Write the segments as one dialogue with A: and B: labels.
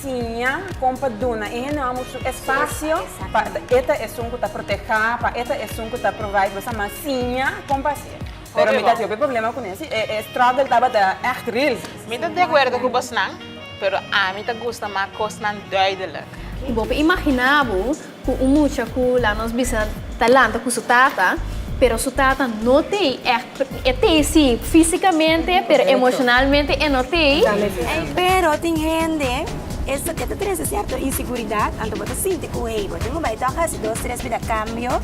A: Siña kon pa duna e hende hombru su espasio pa e ta esun ku ta proteha, pa e ta esun ku ta provide, bo sa mas siña kon pa hasi e. Pero mi ta hopi problema cu nesey, e struggle tabata echt real. Mi ta deacuerdo cu bosnan, pero ami ta gusta mas cosnan duidelijk. Y bo por imagina bo cu un mucha cu, laat nos bisa, ta lanta cu su tata, pero su tata no t'ey echt, e t'ey si fisicamente, pero emocionalmente e no t'ey. Pero tin hende, eso ke ta trece cierto inseguridad, anto bo ta sinti cu hey, bo tin cu bay tok haci dos tres bida cambio,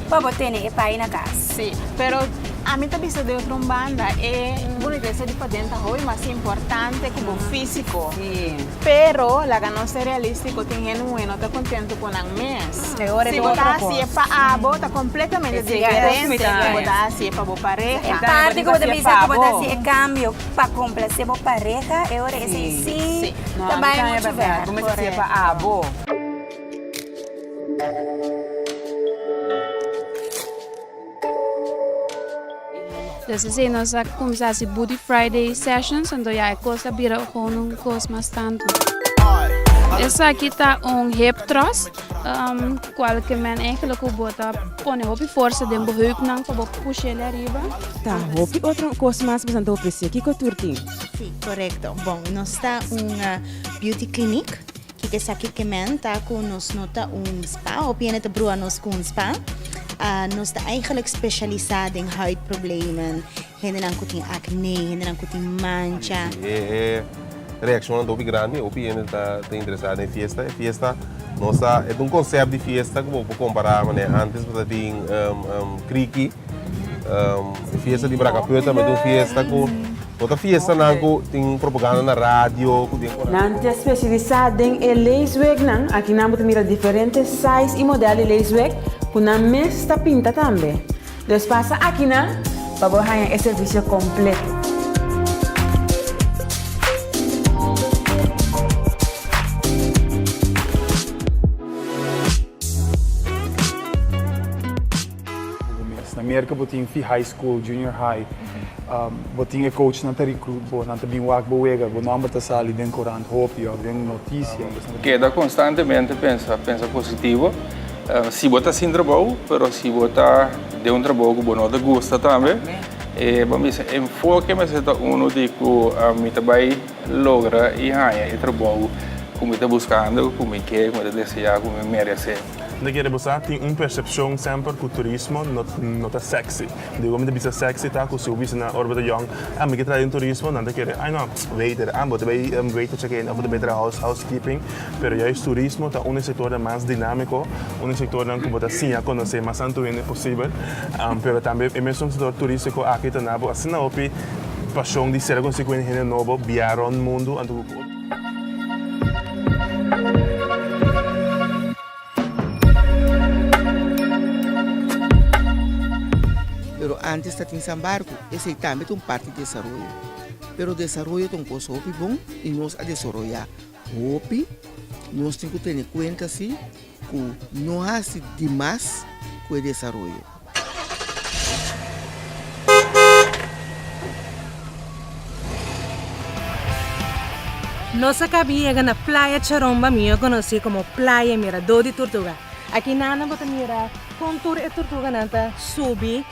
A: pa bo tene e pai na cas. Sí, pero a mi ta bisa de otro un banda, e bonitesa di paden ta hopi mas importante cu bo físico. Sí. Pero laga nos ser realístico, tin hende un e no ta contento cu nan mes. E ora es Si bo otro ta haci e cos. pa abo, ta completamente Es cierto. diferente Cosmic cu bo time. ta haci e pa bo E pareha. Exacto. parti cu bo ta Haci e bisa cu bo ta haci e pabo. cambio pa complace bo pareha, e ora esei Sí. sí No, ta ami bai ta mucho berdad. ver. Bo mester haci e pa Correcto. abo. Des así nos a cuminsa hasi Booty Friday Sessions, anto ya e cos a bira gewoon un cos mas tanto. Esaki ta un hip thrust, um, cual que men eigenlijk cu bota pone hopi forza den bo heupnan pa bo pushele arriba. Ta hopi otro cos mas nos anto ofrece, kico tur tin? Sí, correcto. Bon, nos ta un uh, beauty clinic. Kiko esaki ke men ta ku nos no ta un spa òf yende ta brua nos ku un spa? Nos ta eigenlijk speshalisá den huidproblemen, hendenan ku tin akné, hendenan ku tin mancha. E reakshonnan ta hopi grandi, hopi hende ta interesá den fiesta. E fiesta nos ta, e ta un konsèpt di fiesta ku bo por kompará manera ku ántes bo ta tin kriki. E fiesta di Bracapuerto tambe ta un fiesta ku. Ota fiestanan ku tin propaganda na radio ku den konantu. Nan ta spesialisá den e leeswegnan. Aki nan bo ta mira diferente size i modèl di leesweg ku nan mes ta pinta tambe. Los pasa aki nan pa bo haña e servisio kompleto. Bo mes na mierka bo tin fi high school, junior high, bo tin e coachnan ta recruit bo, nan ta bin wak bo wega, bo nomber ta sali den corant hopi of den noticia. Keda constantemente pensa, pensa positivo. Si bo ta sin trabou, pero si bo ta den un trabou cu bo no ta gusta tambe, e bo mester enfoke mester ta uno di cu mi ta bay logra y haya e trabou cu mi ta buscando, cu mi ke, cu mi ta desea, cu mi merece. Nta kere bo sa? Tin un persepshon semper ku turismo no ta seksi. Diego mi ta bisa seksi ta ku si bo bisa na Urbe de Jong, Ah, mi ke traha den turismo, nan ta kere, Ai no, waiter, ah, bo ta bai waiter check in, òf bo ta bai traha housekeeping. Pero yais turismo ta un di e sektornan mas dinámiko, un di e sektornan ku bo ta siña konosé mas anto hende posibel. Pero tambe e mesun sektor turístiko aki ta na bo asina hopi pashon di ser a konosí ku hende nobo, biaha rònt mundu anto ku. Pero antes ta tin sa barco, esey tambe ta un parti di desaroyo, pero desaroyo ta un cosa hopi bon y nos a desoroya hopi, nos tin cu tene cuenta si. ku no hasi di mas ku e desaroyo. Nos a kabi yega na Playa Charon ba mihó konosí komo Playa Miradó di Turtuga. Aki nan nan bo ta mira kon tur e turtuganan ta subi.